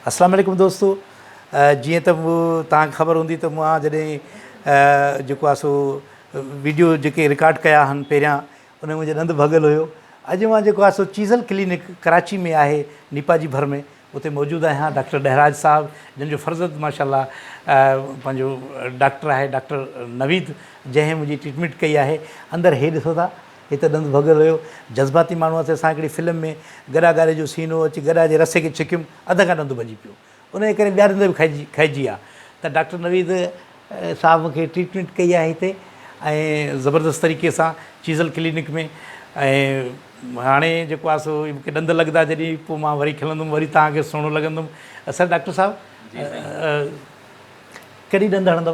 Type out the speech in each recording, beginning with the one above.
اسلام عليڪم دوستو جيئن ته توهان کي خبر هوندي ته مان جڏهن جيڪو آهي سو ويڊيو جيڪي رڪارڊ ڪيا آهن پهريان ان ۾ منهنجو ڏند ڀڳل هيو اڄ مان جيڪو آهي سو چيزل ڪلينڪ ڪراچي ۾ آهي نيپا جي ڀر ۾ اتي موجود آهيان ڊاڪٽر ڏهراج صاحب جن جو فرزند ماشاءالله پنهنجو ڊاڪٽر آهي ڊاڪٽر نويد جنهن منهنجي ٽريٽمينٽ ڪئي آهي اندر هي ڏسو ٿا هي ته ڏند ڀڳل هيو. جذباتي ماڻهو هئاسين. اسان هڪڙي فلم ۾ گڏا ڳاري جو سين هو، اچي گڏا جي رسي کي ڇڪيم، اڌ کان ڏند ڀڄي پيو. ان جي ڪري ٻيا ڏند به کهجي کهجي ويا. ته ڊاڪٽر نويد صاحب مون کي ٽريٽمينٽ ڪئي آهي هتي ۽ زبردست طريقي سان چيزل ڪلينڪ ۾ ۽ هاڻي جيڪو آهي سو مون کي ڏند لڳندا جڏهن پوء مان وري کلندم، وري توهان کي سهڻو لڳندم. اصل ڊاڪٽر صاحب ڪڏهن ڏند هڻندو؟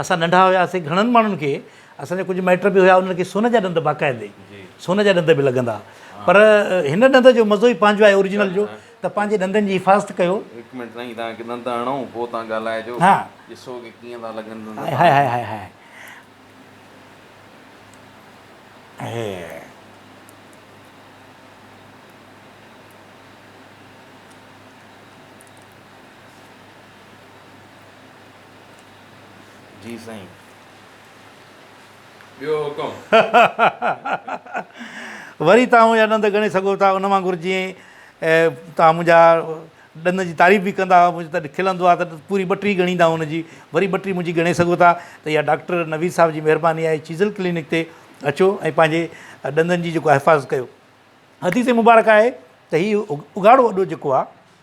اسان ننڍا هياسين گهڻن ماڻهن کي اسان جا ڪجهه مائٽ به هيا انهن کي سون جا ڏند باقاعدي سون جا ڏند به لڳندا پر هن ڏند جو مزو ئي پنهنجو آهي اورجنل جو ته پنهنجي ڏندن جي حفاظت ڪيو هڪ منٽ سائين تان کي ڏند هڻو پوء تان ڳالهائجو ها ڏسو کي ڪيئن ٿا لڳن ڏند هاء هاء هاء هاء هاء جي سائين ٻيو حڪم. وري توهان منهنجا ڏند ڳڻي سگهو ٿا ان وانگر جيئن توهان منهنجا ڏند جي تعريف به ڪندا منهنجو تڏهن کلندو آهي ته پوري ٻٽري ڳڻيندا ان جي وري ٻٽري منهنجي ڳڻي سگهو ٿا ته اها ڊاڪٽر نويد صاحب جي مهرباني آهي چيزل ڪلينڪ تي اچو ۽ پنهنجي ڏندن جي جيڪو حفاظت ڪيو حديث مبارڪ آهي ته هي اگهاڙو اڏو جيڪو آهي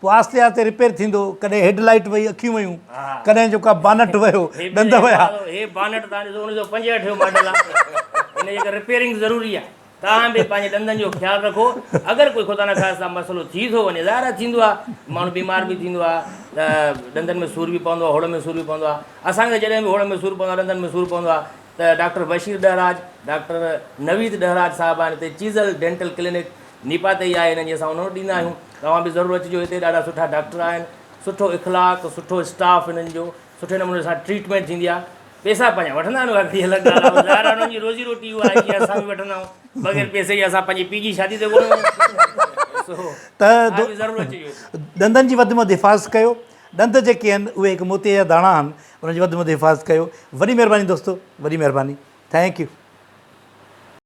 پوء آهستي آهستي رپيئر ٿيندو ڪڏهن هيڊ لائيٽ وئي اکيون ويون ڪڏهن جو ڪا بانٽ ويو ڏند ويا. هي بانٽ تان ڏسو انيس سئو پنجهٺ جو ماڊل آ هن جي ڪري رپيئرنگ ضروري آ توهان به پنهنجي ڏندن جو خيال رکو اگر ڪوئي خدا نخواسته مسئلو ٿي ٿو وڃي ظاهر آ ٿيندو آ ماڻهو بيمار به ٿيندو آ ته ڏندن ۾ سور به پوندو آ هوڙ ۾ سور به پوندو آ اسان کي ته جڏهن به هوڙ ۾ سور پوندو آ ڏندن ۾ سور پوندو آ ته ڊاڪٽر بشير ڏهراج ڊاڪٽر نويد ڏهراج صاحب آهن هتي چيزل ڊينٽل ڪلينڪ نيپا تي ئي آهي هن جي اسان انهن وٽ ڏيندا آهيون توهان به ضرور اچجو هتي ڏاڍا سٺا ڊاڪٽر آهن سٺو اخلاق سٺو اسٽاف هنن جو سٺي نموني سان ٽريٽمينٽ ٿيندي آهي پيسا پنهنجا وٺندا آهن اها گهڙي الڳ ڳالهه آهي ظاهر آهي انهن جي روزي روٽي اها آهي جيئن اسان به وٺندا آهيون بغير پيسي جي اسان پنهنجي پيء جي شادي تي ڪونه وينداسون توهان به ضرور اچجو هتي. ڏندن جي وڌ ۾ وڌ حفاظت ڪيو ڏند جيڪي آهن اهي هڪ موتي جا داڻا آهن انهن جي وڌ ۾ وڌ حفاظت ڪيو وڏي مهرباني دوستو وڏي مهرباني ٿينڪ يو.